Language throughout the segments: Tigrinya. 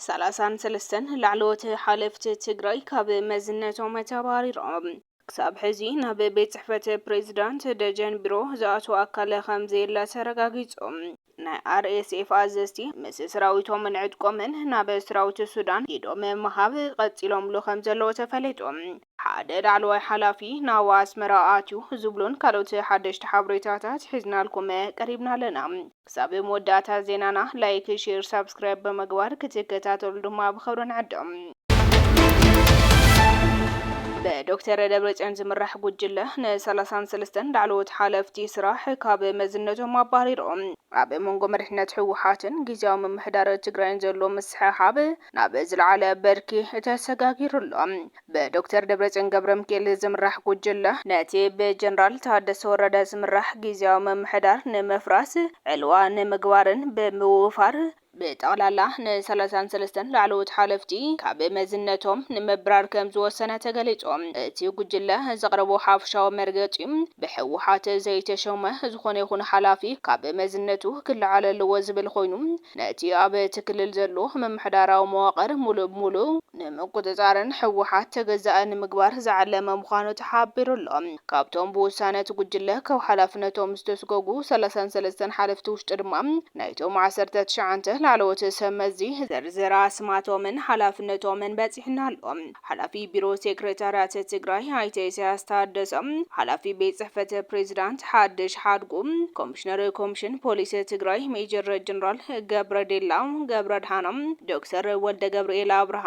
ሰላሳን ሰለስተን ላዕለዎት ሓለፍቲ ትግራይ ካብ መዝነቶም ተባሪሮም ክሳብ ሕዚ ናብ ቤት ጽሕፈት ፕሬዚዳንት ደጀን ቢሮ ዝኣተወ ኣካል ከም ዘየለ ተረጋጊጹ። ናይ RSF ኣዘዝቲ ምስ ስራዊቶምን ዕጥቆምን ናብ ስራዊት ሱዳን ኢዶም ምሃብ ቀጺሎምሉ ከምዘለዉ ተፈሊጡ። ሓደ ላዕለዋይ ሓላፊ ናብ ኣስመራ ኣትዩ ዝብሉን ካልኦት ሓደሽቲ ሓበሬታታት ሒዝናልኩም ቀሪብና ኣለና። ክሳብ መወዳእታ ዜናና ላይክ፣ ሼር፣ ሳብስክራይብ ብምግባር ክትከታተሉ ድማ ብኽብሪ ንዕድም። ብዶክተር ደብረፅዮን ዝምራሕ ጉጅለ ንሰላሳን ሰለስተን ላዕለዎት ሓለፍቲ ስራሕ ካብ መዝነቶም ኣባሪሩ። ኣብ መንጎ መሪሕነት ህወሓትን ጊዚያዊ ምምሕዳር ትግራይን ዘሎ ምስሕሓብ ናብ ዝለዓለ ብርኪ ተሰጋጊሩ ኣሎ። ብዶክተር ደብረፅዮን ገብረምኪኤል ዝምራሕ ጉጅለ ነቲ ብጀነራል ታደሰ ወረደ ዝምራሕ ጊዚያዊ ምምሕዳር ንምፍራስ ዕልዋ ንምግባርን ብምውፋር ብጠቕላላ ን ሰላሳን ሰለስተን ላዕለዎት ሓለፍቲ ካብ መዝነቶም ንምብራር ከምዝወሰነ ተገሊፁ። እቲ ጉጅለ ዘቕረቦ ሓፈሻዊ መርገፂ ብህወሓት ዘይተሸመ ዝኾነ ይኹን ሓላፊ ካብ መዝነቱ ክለዓል ኣለዎ ዝብል ኾይኑ ነቲ ኣብ እቲ ክልል ዘሎ ምምሕዳራዊ መዋቕር ሙሉእ ብሙሉእ ንምቁፅፃርን ህወሓት ተገዛኢ ንምግባር ዝዓለመ ምዃኑ ተሓቢሩ ኣሎ። ካብቶም ብውሳነ እቲ ጉጅለ ካብ ሓላፍነቶም ዝተስጎጉ ሰላሳን ሰለስተን ሓለፍቲ ውሽጢ ድማ፣ ናይቶም ዓሰርተ ትሽዓንተ ላዕለዎት ሰብ መዚ ዝርዝር ኣስማቶምን ሓላፍነቶምን በፂሑና ኣሎ። ሓላፊ ቢሮ ሴክሬታርያት ትግራይ ኣይተ ኢሳያስ ታደሰ፣ ሓላፊ ቤት ፅሕፈት ፕሬዚዳንት ሓድሽ ሓድጉ፣ ኮሚሽነር ኮሚሽን ፖሊስ ትግራይ ሜጀር ጀነራል ገብረዴላ ገብረድሃኖም፣ ዶክተር ወልደገብርኤል ኣብርሃ፣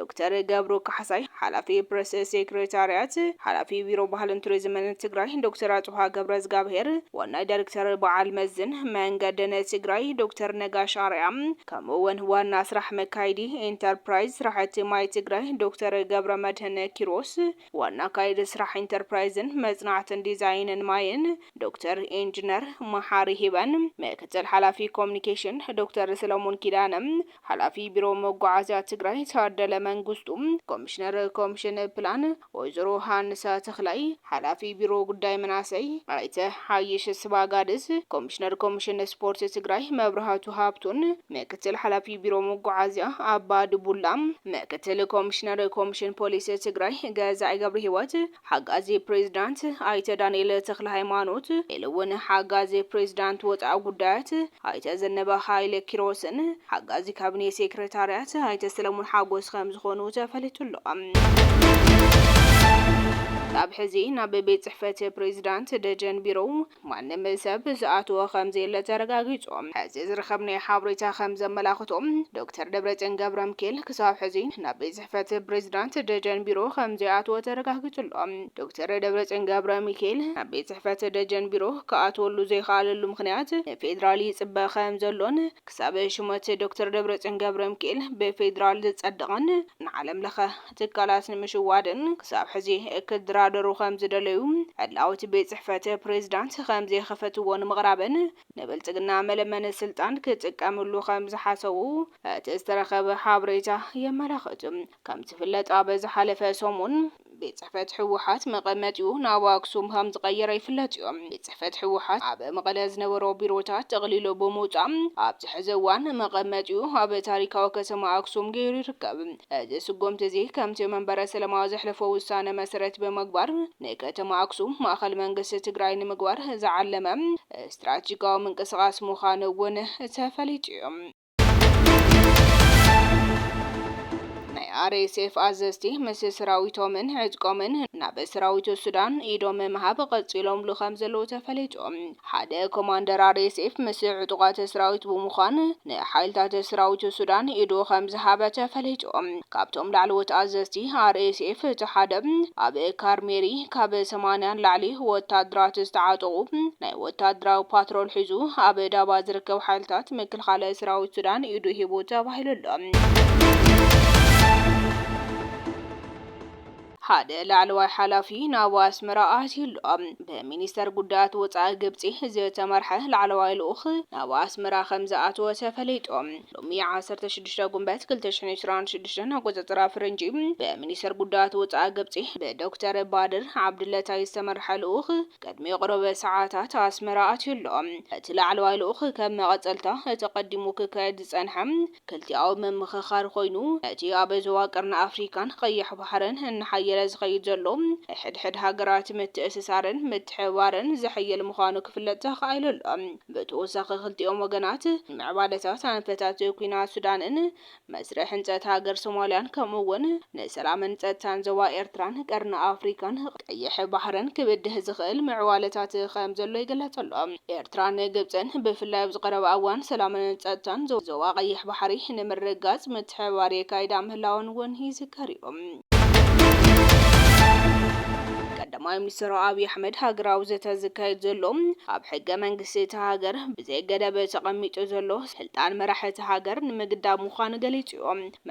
ዶክተር ገብሩ ካሕሳይ፣ ሓላፊ ፕረስ ሴክሬታርያት ሓላፊ ቢሮ ባህልን ቱሪዝምን ትግራይ ዶክተር ኣጽብሃ ገብረዝጋብሄር፣ ዋናይ ዳይሬክተር በዓል መዝን መንገድን ትግራይ ዶክተር ነጋሽ ኣርኣያ ከምኡ እውን ዋና ስራሕ መካይዲ ኢንተርፕራይዝ ስራሕቲ ማይ ትግራይ ዶክተር ገብረመድህን ኪሮስ፣ ዋና ኣካይዲ ስራሕ ኢንተርፕራይዝን መፅናዕትን ዲዛይንን ማይን ዶክተር ኢንጅነር መሓሪ ሂበን፣ ምክትል ሓላፊ ኮሙኒኬሽን ዶክተር ሰለሙን ኪዳነ፣ ሓላፊ ቢሮ መጓዓዝያ ትግራይ ታደለ መንግስቱ፣ ኮሚሽነር ኮሚሽን ፕላን ወይዘሮ ሃንሳ ተኽላይ፣ ሓላፊ ቢሮ ጉዳይ መናእሰይ ኣይተ ሓይሽ ስባጋድስ፣ ኮሚሽነር ኮሚሽን ስፖርት ትግራይ መብራህቱ ሃብቱን ምክትል ሓላፊ ቢሮ መጓዓዝያ ኣባዱቡላ፣ ምክትል ኮሚሽነር ኮሚሽን ፖሊስ ትግራይ ገዛኢ ገብርሂወት፣ ሓጋዚ ፕሬዚዳንት ኣይተ ዳንኤል ተክለሃይማኖት ኢሉ እውን ሓጋዚ ፕሬዚዳንት ወፃኢ ጉዳያት ኣይተ ዘነበ ሃይለ ኪሮስን ሓጋዚ ካቢኔ ሴክሬታሪያት ኣይተ ሰለሙን ሓጎስ ከምዝኾኑ ተፈሊጡ ኣሎ። ክሳብ ሕዚ ናብ ቤት ፅሕፈት ፕሬዚዳንት ደጀን ቢሮ ማንም ሰብ ዝኣተዎ ከምዘየለ ተረጋጊጹ። ሕዚ ዝረኸብናዮ ሓበሬታ ከምዘመላኽቶ፣ ዶክተር ደብረጽዮን ገብረምኪኤል ክሳብ ሕዚ ናብ ቤት ጽሕፈት ፕሬዚዳንት ደጀን ቢሮ ከምዘይኣተወ ተረጋጊጹ ኣሎ። ዶክተር ደብረጽዮን ገብረሚካኤል ናብ ቤት ጽሕፈት ደጀን ቢሮ ክኣትወሉ ዘይኸኣለሉ ምኽንያት ንፌዴራል ይጽበ ከምዘሎን ክሳብ ሹመት ዶክተር ደብረጽዮን ገብረሚካኤል ብፌዴራል ዝጸድቕን ንዓለምለኸ ትካላት ንምሽዋድን ክሳብ ሕዚ ክድራደሩ ከምዝደለዩ ዕላዊ እቲ ቤት ፅሕፈት ፕሬዝዳንት ከምዘይኸፈትዎ ንምቕራብን ንብልፅግና መለመኒ ስልጣን ክጥቀምሉ ከምዝሓሰቡ እቲ ዝተረኸበ ሓብሬታ የመላኽት። ከምዝፍለጥ ኣብ ዝሓለፈ ሰሙን ቤት ፅሕፈት ህወሓት መቐመጢኡ ናብ ኣክሱም ከምዝቐየረ ይፍለጥ እዩ። ጽሕፈት ህወሓት ኣብ መቐለ ዝነበሮ ቢሮታት ጠቕሊሉ ብምውጻእ ኣብዚ ሕዚ እዋን መቐመጢኡ ኣብ ታሪካዊ ከተማ ኣክሱም ገይሩ ይርከብ። እዚ ስጉምቲ እዚ ከምቲ መንበረ ሰላማ ዘሕለፎ ውሳነ መሰረት ብምግባር ንከተማ ኣክሱም ማእኸል መንግስቲ ትግራይ ንምግባር ዝዓለመ ስትራቴጂካዊ ምንቅስቓስ ምዃኑ እውን ተፈሊጡ እዩ። ናይ RSF ኣዘዝቲ ምስ ስራዊቶምን ዕጥቆምን ናብ ስራዊት ሱዳን ኢዶም ምሃብ ቐጺሎምሉ ከምዘለዉ ተፈሊጡ። ሓደ ኮማንደር RSF ምስ ዕጡቓት ስራዊት ብምዃን ንሓይልታት ስራዊት ሱዳን ኢዱ ከምዝሃበ ተፈሊጡ። ካብቶም ላዕለዎት ኣዘዝቲ RSF እቲ ሓደ ኣብ ካርሜሪ ካብ ሰማንያ ንላዕሊ ወታደራት ዝተዓጠቑ ናይ ወታደራዊ ፓትሮል ሒዙ ኣብ ዳባ ዝርከብ ሓይልታት ንምክልኻል ሰራዊት ሱዳን ኢዱ ሂቡ ተባሂሉ ኣሎ። ሓደ ላዕለዋይ ሓላፊ ናብ ኣስመራ ኣትዩ ኣሎ። ብሚኒስተር ጉዳያት ወጻኢ ግብጺ ዝተመርሐ ላዕለዋይ ልኡኽ ናብ ኣስመራ ከምዝኣተወ ተፈሊጡ። ሎሚ ዓሰርተ ሽዱሽተ ጉንበት ክልተ ሽሕን ዕስራን ሽዱሽተን ኣቆጻጽራ ፈረንጂ ብሚኒስተር ጉዳያት ወጻኢ ግብጺ ብዶክተር ባድር ዓብድለታይ ዝተመርሐ ልኡኽ ቅድሚ ቕሩብ ሰዓታት ኣስመራ ኣትዩ ኣሎ። እቲ ላዕለዋይ ልኡኽ ከም መቐጸልታ እቲ ቀዲሙ ክካየድ ዝጸንሐ ክልቲኣዊ ምምኽኻር ኮይኑ፣ ነቲ ኣብ ዞባ ቀርኒ ኣፍሪካን ቐይሕ ባሕርን እናሓየለ ዝኸይድ ዘሎ ናይ ሕድሕድ ሃገራት ምትእስሳርን ምትሕብባርን ዘሐይል ምዃኑ ክፍለጥ ተኻኢሉ ኣሎ። ብተወሳኺ ክልቲኦም ወገናት ንምዕባለታት ኣንፈታት ኲናት ሱዳንን መስርሕ ህንጸት ሃገር ሶማልያን ከምኡ እውን ንሰላምን ጸጥታን ዞባ ኤርትራን ቀርኒ ኣፍሪካን ቀይሕ ባሕርን ክብድህ ዝኽእል ምዕባለታት ከም ዘሎ ይግለጽ ኣሎ። ኤርትራን ግብጽን ብፍላይ ኣብዚ ቀረባ እዋን ሰላምን ጸጥታን ዞባ ቀይሕ ባሕሪ ንምርግጋጽ ምትሕብባር የካይዳ ምህላወን እውን ይዝከር እዩ። ቀዳማይ ሚኒስትር ኣብዪ ኣሕመድ ሃገራዊ ዘተ ዝካየድ ዘሎ ኣብ ሕገ መንግስቲ እታ ሃገር ብዘይገደብ ተቐሚጡ ዘሎ ስልጣን መራሒ እታ ሃገር ንምግዳብ ምዃኑ ገሊጹ'ዩ።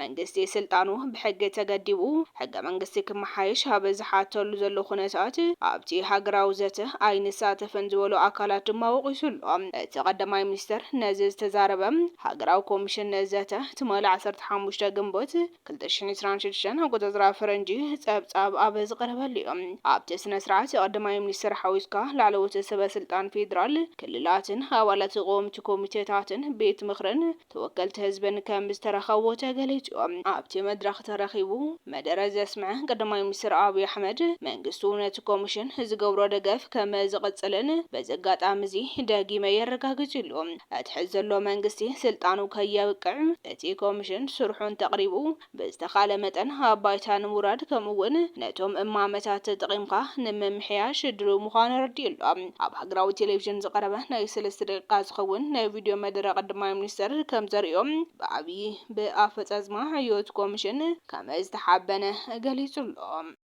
መንግስቲ ስልጣኑ ብሕጊ ተገዲቡ ሕገ መንግስቲ ክመሓየሽ ኣብ ዝሓተሉ ዘሎ ኩነታት ኣብቲ ሃገራዊ ዘተ ኣይንሳተፍን ዝበሉ ኣካላት ድማ ወቒሱ ኣሎ። እቲ ቀዳማይ ሚኒስትር ነዚ ዝተዛረበ ሃገራዊ ኮሚሽን ዘተ ትማሊ ዓሰርተ ሓሙሽተ ግንቦት ክልተ ሽሕን ዕስራን ሽዱሽተን ኣቆጻጽራ ፈረንጂ ጸብጻብ ኣብ ዝቐረበሉ'ዩ። ኣብቲ ስነ-ስርዓት ቀዳማይ ሚኒስተር ሓዊስካ ላዕለዎት ሰበ-ስልጣን ፌደራል፣ ክልላትን ኣባላት ቀወምቲ ኮሚቴታትን ቤት ምኽርን ተወከልቲ ህዝብን ከም ዝተረኸቡ ተገሊጹ። ኣብቲ መድረኽ ተረኺቡ መደረ ዘስምዐ ቀዳማይ ሚኒስተር ኣብይ ኣሕመድ፣ መንግስቱ ነቲ ኮሚሽን ዝገብሮ ደገፍ ከም ዝቕጽልን በዚ ኣጋጣሚ'ዚ ደጊመ የረጋግጽ ኢሉ። እቲ ሕዚ ዘሎ መንግስቲ ስልጣኑ ከየብቅዕ እቲ ኮምሽን ስርሑ እንተቕሪቡ ብዝተኻለ መጠን ኣብ ባይታ ንምውራድ ከምኡ እውን ነቶም እማመታት ተጠቒምካ ንምምሕያሽ ድልው ምዃኑ ኣረዲኡ ኣሎ። ኣብ ሃገራዊ ቴሌቪዥን ዝቐረበ ናይ ሰለስተ ደቂቃ ዝኸውን ናይ ቪድዮ መደረ ቀዳማይ ሚኒስትር ከምዘርእዮ ብኣብዪ ብኣፈፃፅማ ዕዮት ኮምሽን ከመዝተሓበነ ገሊፁ ኣሎ።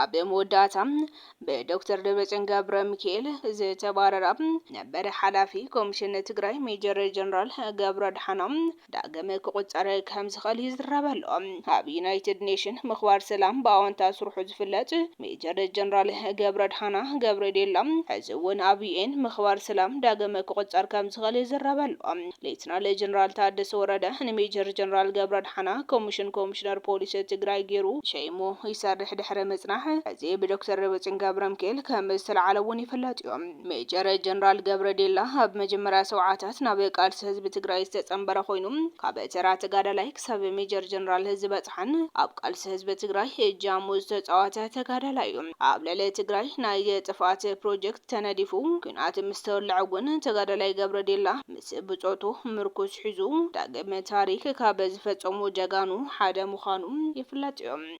ኣብ መወዳእታ ብዶክተር ደብረፅዮን ገብረ ሚካኤል ዝተባረራ ነበር ሓላፊ ኮሚሽን ትግራይ ሜጀር ጀነራል ገብረ ኣድሓኖም ዳግም ክቁፀር ከም ዝኽእል ይዝረበሉ። ኣብ ዩናይትድ ኔሽን ምኽባር ሰላም ብኣወንታ ስርሑ ዝፍለጥ ሜጀር ጀነራል ገብረድሓና ገብረዴላ ሕዚ እውን ኣብ ዩኤን ምኽባር ሰላም ዳግም ክቑፀር ከምዝኽእል ይዝረብ ኣሎ። ሌተናል ጀነራል ታደሰ ወረደ ንሜጀር ጀነራል ገብረድሓና ኮሚሽን ኮሚሽነር ፖሊስ ትግራይ ገይሩ ሸይሙ ይሰርሕ ድሕሪ ምፅናሕ ሕዚ ብዶክተር ደብረፅዮን ገብረምኪኤል ከምዝተልዓለ እውን ይፍለጥ እዩ። ሜጀር ጀነራል ገብረዴላ ኣብ መጀመርያ ሰውዓታት ናብ ቃልሲ ህዝቢ ትግራይ ዝተፀምበረ ኮይኑ ካብ ተራ ተጋዳላይ ክሳብ ሜጀር ጀነራል ዝበፅሐን ኣብ ቃልሲ ህዝቢ ትግራይ እጃሙ ዝተፃወተ ተጋዳላይ ዩ። ኣብ ልዕሊ ትግራይ ናይ ጥፍኣት ፕሮጀክት ተነዲፉ ኲናት ምስ ተወልዐ ውን ተጋዳላይ ገብረዲላ ምስ ብፆቱ ምርኩስ ሒዙ ዳግም ታሪክ ካብ ዝፈፀሙ ጀጋኑ ሓደ ምዃኑ ይፍለጥ ዩ።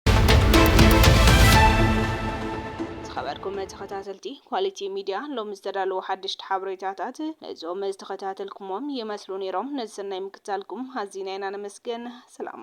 ዝኸበርኩም ተኸታተልቲ ኳሊቲ ሚድያ ሎሚ ዝተዳለዉ ሓደሽቲ ሓበሬታታት ነዞም ዝተኸታተልኩሞም ይመስሉ ነይሮም። ነዚ ሰናይ ምክትታልኩም ኣዚና ኢና ነመስግን። ሰላም።